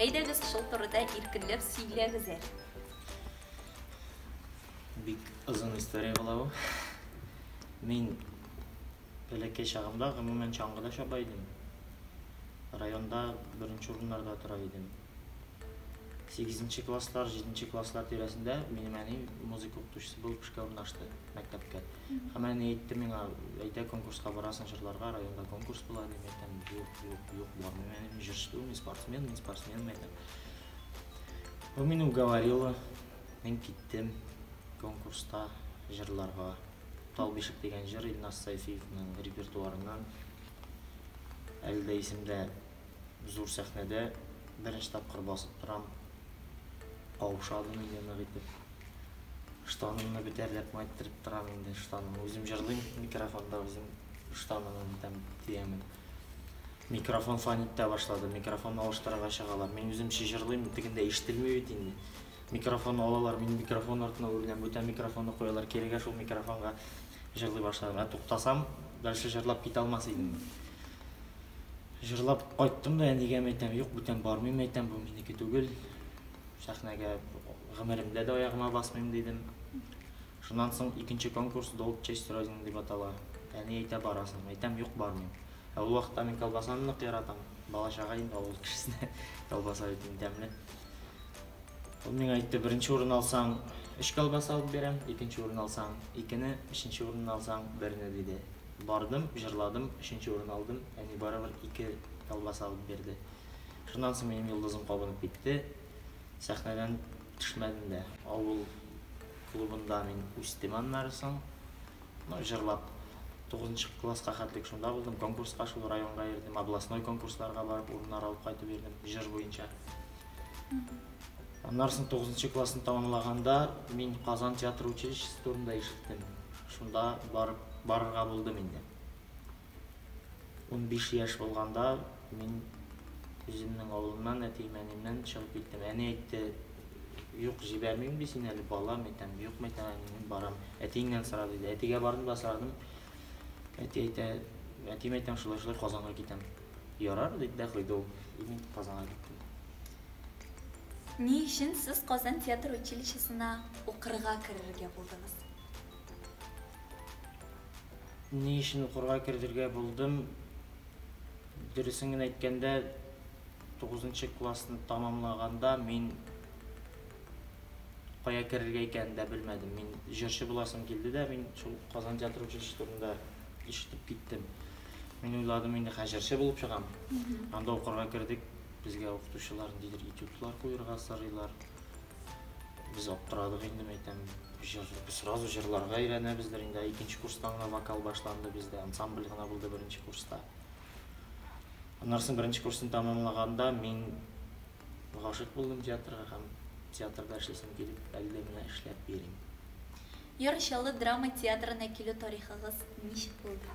Әйдәгез, шул турыда иркенләп сөйләгез әле. Бик озын история була бу. Мин бәләкәй чагымда, гомумән, чаңгыда чаба идем. Районда беренче урыннарда тора идем. Сигезенче класслар, җиденче класслар тирәсендә минем әни музыка укытучысы булып эшкә урнаштырды мәктәпкә. Һәм әни әйтте миңа, әйдә конкурска барасың җырларга, районда конкурс була, дип әйтәм, юк. Юк, юк, бармыйм әле мин җырчы мин спортсмен, мин спортсмен әйтәм. Ул мине уговорила, мин киттем конкурста җырларга. Тал бишек дигән җыр Илназ Сайфиевның репертуарыннан. Әле дә исемдә зур сәхнәдә беренче тапкыр басып торам. Каушадым инде нык итеп. Штанымны бетәрләп майттырып торам инде штаным. Үзем җырлыйм микрофонда, үзем штанымны бетәм, тиямән. Микрофон фан итә башлады. Микрофон алыштырырга чыгалар. Мин үзем чыжырлыйм, тегендә ишетелми бит инде. Микрофон алалар, мин микрофон артына үреләм, бүтән микрофонны куялар, кирегә шул микрофонга җырлый башладым. Ә туктасам, дальше җырлап китә алмас идем. Җырлап кайттым да әнигә әйтәм, юк, бүтән бармыйм әйтәм, бу минеке түгел. Сәхнәгә гомеремдә дә аягыма басмыйм дидем. Шуннан соң икенче конкурс Долг честь Родины дип атала. Әни әйтә, барасың. Әйтәм, юк, бармыйм. Ә ул вакытта мин колбасаны нык яратам. Бала-чага инде авыл кешесенә колбаса бит иң тәмле. Ул миңа әйтте, беренче урын алсаң, өч колбаса алып бирәм, икенче урын алсаң, икене, өченче урынны алсаң, берне, диде. Бардым, җырладым, өченче урын алдым, әни барыбер ике колбаса алып бирде. Шуннан соң минем йолдызым кабынып китте, сәхнәдән төшмәдем дә. Авыл. Клубында мин үстем аннары соң. Ну, җырлап, тугызынчы класска хәтлек шунда булдым. Конкурска шул районга йөрдем, областной конкурсларга барып урыннар алып кайтып йөрдем, җыр буенча. Аннары соң тугызынчы классны тәмамлаганда мин Казан театр училищесы турында ишеттем. Шунда барып, барырга булдым инде. Унбиш яшь булганда мин үземнең авылымнан, әти-мәниемнән чыгып киттем. Әни әйтте, Юк, җибәрмим бит син әле, балам, әйтәм. Юк, мәйтәм, әни, мин барам. Әтиеңнән сора, диде. Әтигә бардым да сорадым. Әти әйтә, әти мәйтәм, шулай-шулай Казанга китәм. Ярар, диде дә куйды ул. И мин Казанга киттем. Ни өчен сез Казан театр училищесына укырга керергә булдыгыз? Ни өчен укырга кертергә булдым? Дөресен генә әйткәндә, тугызынчы классны тәмамлаганда мин кая керергә икәнен дә белмәдем. Мин җырчы буласым килде дә, мин шул Казан театр училище турында ишетеп киттем. Мин уйладым, инде хә җырчы булып чыгам. Анда укырга кердек, безгә укытучылар ниндидер этюдлар куерга сорыйлар. Без аптырадык инде, мәйтәм, җыр, сразу җырларга өйрәнәбездер инде. Икенче курстан гына вокал башланды бездә, ансамбль гына булды беренче курста. Аннарсын беренче курсын тәмамлаганда мин гашык булдым театрга һәм театрда эшлисем килеп, әле менә эшләп йөрим. Яр Чаллы драма театрына килү тарихыгыз ничек булды?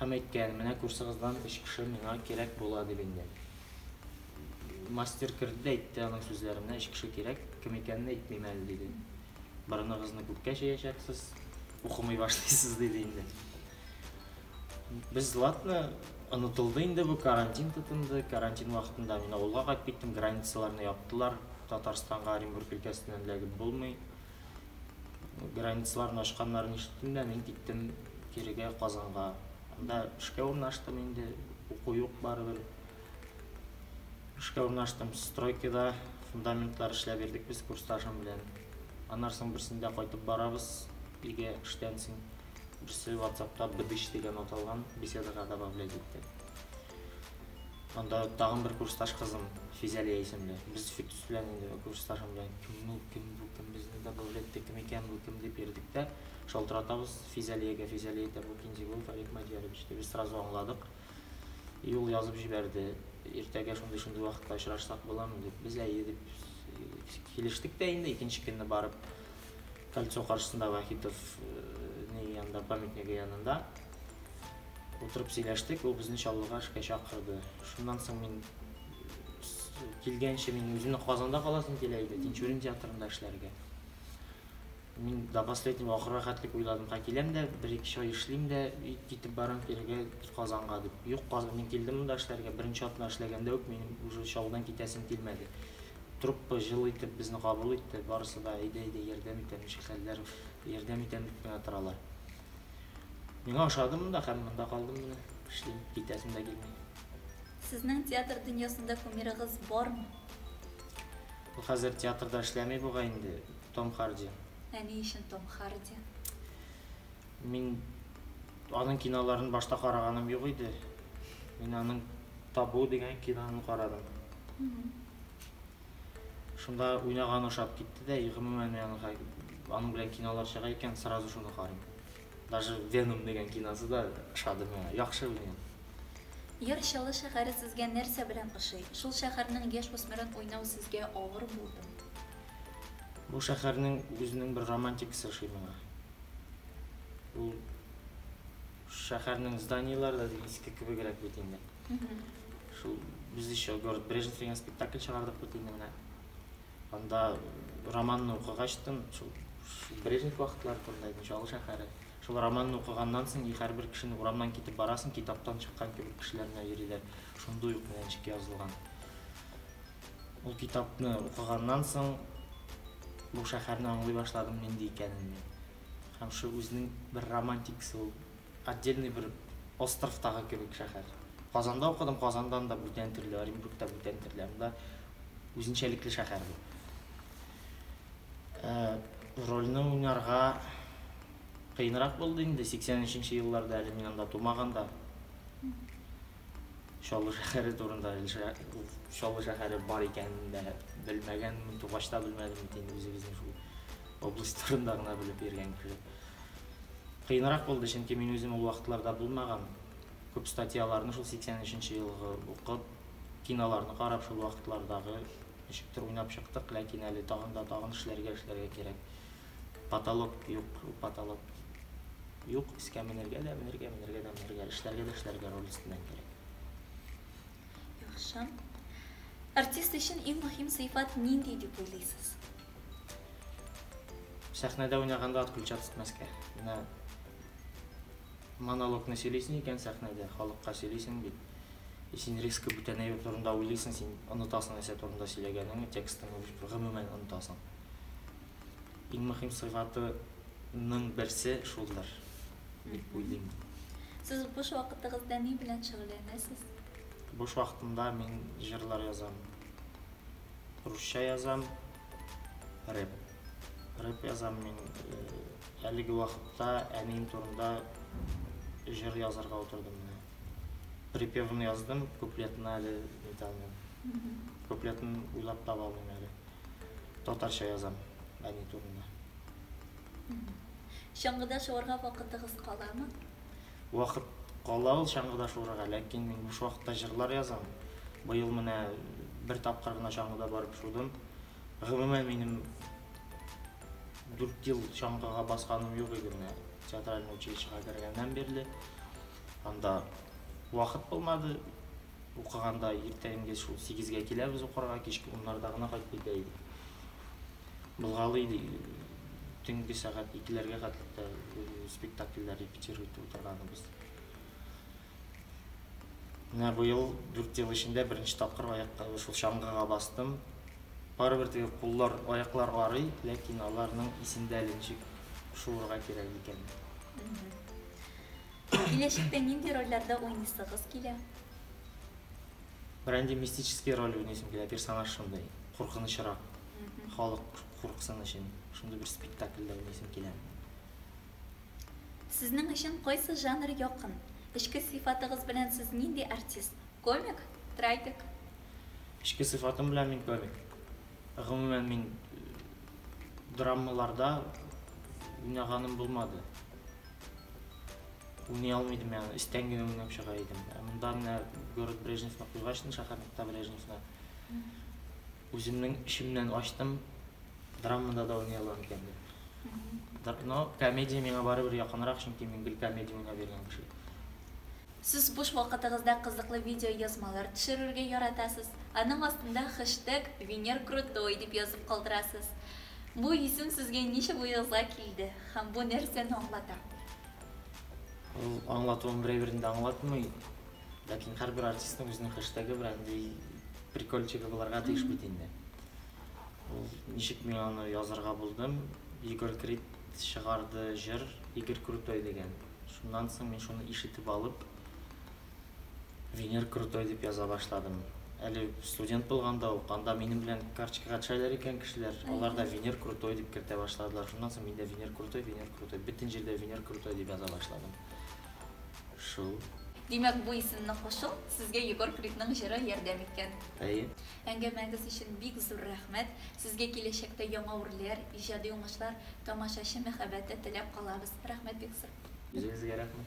Һәм әйткән, менә курсыгыздан өч кеше миңа кирәк була дип инде. Мастер керде дә әйтте аның сүзләренә, өч кеше кирәк, кем икәнен әйтмим әле, диде. Борыныгызны күккә чәячәксез, укымый башлыйсыз, диде инде. Без латны онытылды инде бу карантин тотынды. Карантин вакытында мин авылга кайтып киттем, границаларны яптылар. Татарстанга Оренбург өлкәсеннән эләгеп булмый. Границаларны ачканнарын ишеттем дә, мин киттем кирегә Казанга. Анда эшкә урнаштым инде, уку юк барыбер. Эшкә урнаштым стройкада, фундаментлар эшләп бирдек без курсташым белән. Аннан соң берсендә кайтып барабыз өйгә эштән соң. Берсе WhatsAppта бдыч дигән аталган беседага добавлять итте. Анда тагын бер курсташ кызым, Физәлия исемле. Без Фирдүс белән инде курсташым белән кем ул, кем бу, кем безне добавлять итте, кем икән бу, кем дип йөрдек тә, шалтыратабыз Физәлиягә, Физәлия әйтә, бу Кинзигулов Олег Мадьярович дип. Без сразу аңладык. И ул язып җибәрде. Иртәгә шундый-шундый вакытта очрашсак буламы дип. Без әйе дип килештек тә инде, икенче көнне барып Кольцо каршысында Вахитов янында, памятнигы янында. Утырып сөйләштек, ул безне Чаллыга эшкә чакырды. Шуннан соң мин килгәнче мин үземне Казанда каласым килә иде, Тинчурин театрында эшләргә. Мин до последнего ахырга хәтлек уйладым, ка киләм дә, бер-ике ай эшлим дә, китеп барам кирегә Казанга дип. Юк, Казан, мин килдем монда эшләргә, беренче атна эшләгәндә үк минем уже Чаллыдан китәсем килмәде. Труппа җылы итеп безне кабул итте, барысы да әйдә-әйдә ярдәм итәм, ничек хәлләр, ярдәм итәм дип кенә торалар. Миңа ошады монда һәм монда калдым менә. Эшлим, китәсем дә килми. Сезнең театр дөньясында кумирыгыз бармы? Ул хәзер театрда эшләми бугай инде, Том Харди. Ә ни өчен Том Харди? Мин аның киноларын башта караганым юк иде. Мин аның Табу дигән киноны карадым. Шунда уйнаганы ошап китте дә, и гомумән мин аны аның белән кинолар чыга икән, сразу шуны карыйм. Даже Веном дигән киносы да ошады миңа. Яхшы уйный ул. Яр Чаллы шәһәре сезгә нәрсә белән ошый? Шул шәһәрнең яшь үсмерен уйнау сезгә авыр булдымы? Бу шәһәрнең үзенең бер романтикасы ошый миңа. Ул Шәһәрнең зданиеләре дә иске кебегрәк бит инде. Шул без еще город Брежнев дигән спектакль чыгардык бит инде менә. Анда романны укыгач тын, шул Брежнев вакытлары турында идем, Чаллы шәһәре. Шул романны укыганнан соң и һәрбер кешене урамнан китеп барасың, китаптан чыккан кебек кешеләр менә йөриләр. Шундый ук менә ничек язылган. Ул китапны укыганнан соң бу шәһәрне аңлый башладым нинди икәнен мин. Һәм шул үзенең бер романтикасы ул. Отдельный бер островтагы кебек шәһәр. Казанда укыдым, Казандан да бүтән төрле, Оренбург та бүтән төрле. Анда үзенчәлекле шәһәр бу. Ә, рольне уйнарга кыенрак булды инде, 83 нче елларда, әле мин анда тумаган да. Чаллы шәһәре турында Чаллы шәһәре бар икәнен дә белмәгәнмен, тугач та белмәдем бит инде үзебезнең шул область турында гына белеп йөргән кеше. Кыенрак булды, чөнки мин үзем ул вакытларда булмаган. Күп статьяларны шул 83 елгы укып, киноларны карап шул вакытлардагы ничектер уйнап чыктык, ләкин әле тагын да тагын эшләргә эшләргә кирәк. Потолок юк, потолок юк, искә менергә дә, менергә, менергә дә, менергә, эшләргә дә, эшләргә руль өстеннән кирәк. Яхшы. Артист өчен иң мөһим сыйфат нинди дип уйлыйсыз? Сәхнәдә уйнаганда ат көлчә тотмаска. Менә монологны сөйлисең икән сәхнәдә, халыкка сөйлисең бит. И син резко бүтәнәй турында уйлыйсың, син онытасың нәрсә турында сөйләгәнеңне, текстыңны гомумән онытасың. Иң мөһим сыйфатының берсе шулдыр, дип уйлыйм. Сез буш вакытыгызда ни белән шөгыльләнәсез? Буш вакытымда мин җырлар язам. Русча язам, рэп. Рэп язам мин. Әлеге вакытта әнием турында җыр язарга утырдым менә. Припевын яздым, куплетын әле нитә алмыйм. Куплетын уйлап таба алмыйм әле. Татарча язам әни турында. Чаңгыда шуарга вакытыгыз каламы? Вакыт кала ул чаңгыда шуарга, ләкин мин буш вакытта җырлар язам. Быел менә бер тапкыр гына чаңгыда барып шудым. Гомумән минем 4 ел чаңгыга басканым юк иде менә театральный училищега кергәннән бирле. Анда вакыт булмады, укыганда иртәнге шул сигезгә киләбез укырга, кичке уннарда гына кайтып китә идек. Былгалый ди, төнге сәгать икеләргә хәтлек тә спектакльләр репетировать итеп утырганыбыз. Менә быел дүрт ел эчендә беренче тапкыр аякка шул чаңгыга бастым. Барыбер теге куллар, аяклар арый, ләкин аларның исендә әле ничек шуырга кирәк икән. Киләчәктә нинди рольләрдә уйныйсыгыз килә? Берәнди мистический роль уйныйсым килә, персонаж шундый, куркынычрак. Халык курыксын өчен шундый бер спектакльдә уйныйсым килә. Сезнең өчен кайсы жанр якын? Эчке сыйфатыгыз белән сез нинди артист? Комик? Трагик? Эчке сыйфатым белән мин комик. Гомумән мин драмаларда уйнаганым булмады. Уйный алмыйдым яны, истән генә уйнап чыга идем. Ә монда менә город Брежневны куйгач, шәһәр нокта Брежневны үземнең эчемнән ачтым, драмада да уйный алам икән дип. Но комедия миңа барыбер якынрак, чөнки мин гел комедия уйнап йөргән кеше. Сез буш вакытыгызда кызыклы видеоязмалар төшерергә яратасыз. Аның астында хэштег VenerKrutoy дип язып калдырасыз. Бу исем сезгә ничек уегызга килде һәм бу нәрсәне аңлата? Ул аңлатуын берәү берни дә аңлатмый, ләкин һәрбер артистның үзенең хэштегы бер андый прикольчигы булырга тиеш бит инде. Ул ничек мин аны язырга булдым, Егор Крид чыгарды җыр, Игорь Крутой дигән. Шуннан соң мин шуны ишетеп алып, Венер крутой дип яза башладым. Әле студент булганда ук, анда минем белән карточкага төшәләр икән кешеләр, алар да Венер крутой дип кертә башладылар. Шуннан соң мин дә Венер крутой, Венер крутой, бөтен җирдә Венер крутой дип яза башладым. Шул. Димәк, бу исемне кушу сезгә Егор Кридның җыры ярдәм иткән. Әйе. Әңгәмәгез өчен бик зур рәхмәт! Сезгә киләчәктә яңа үрләр, иҗади уңышлар, тамашачы мәхәббәте теләп калабыз! Рәхмәт бик зур! Үзегезгә рәхмәт!